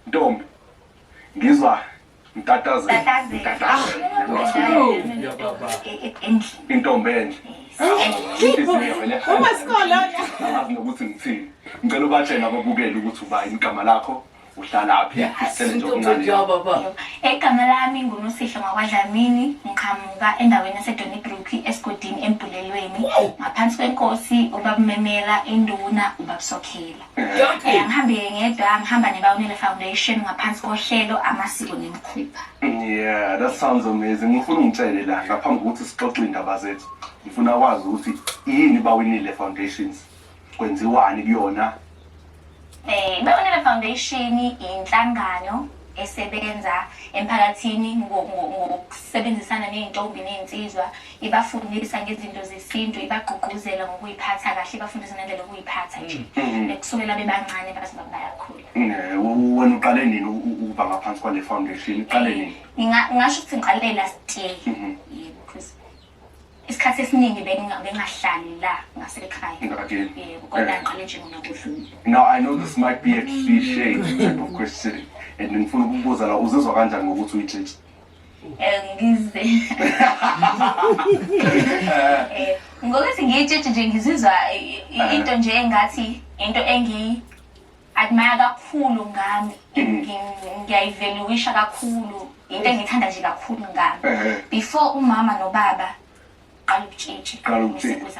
Ntombi, ngizwa ntatazela. Intombi enhle. Angazi nokuthi ngithini. Ngicela ubatshele ababukeli ukuthi ubayini igama lakho, uhlalaphi, isithele nje okuncane. Igama lami nguNosihle ngwakwaDlamini ngiqhamuka endaweni yaseDonnybrook esigodini eMbhulelweni ngaphansi kwenkosi ubabumemela induna ubabsokhela yonke yangihambile ngedwa ngihamba nebawunele foundation ngaphansi kohlelo amasiko nemikhuba yeah that sounds amazing ngifuna ungitshele la ngaphambi kokuthi sixoxe iy'ndaba zethu ngifuna kwazi ukuthi yini bawinile foundations kwenziwani kuyona eh bawinile foundation inhlangano esebenza emphakathini ngokusebenzisana ney'ntombi ney'nsizwa ibafundisa ngezinto zesintu ibagqugquzela ngokuyiphatha kahle ibafundisa nendlela yokuyiphatha nje mm. eh, kusukela bebancane baze bayakhula eh, wena uqale nini ukuba ngaphansi kwale foundation uqale eh, nini ngingasho ukuthi ngiqale last year mm-hmm. isikhathi esiningi bengahlali la ngasekhaya yebo kodwa ngiqale nje mina kudlula now i know this might be a cliche type of question and ngifuna ukubuza la uzizwa kanjani ngokuthi uyijeje ngize Eh, ngokuthi ngiyitshitshi nje ngizizwa i- i- into nje engathi into engiyi-admire kakhulu ngami Ngi- ngiyayivaluisha kakhulu into engiyithanda nje kakhulu ngami Ehhe. before umama nobaba qala ukutshitshi Qala ukutshitshi. Ngiseduze.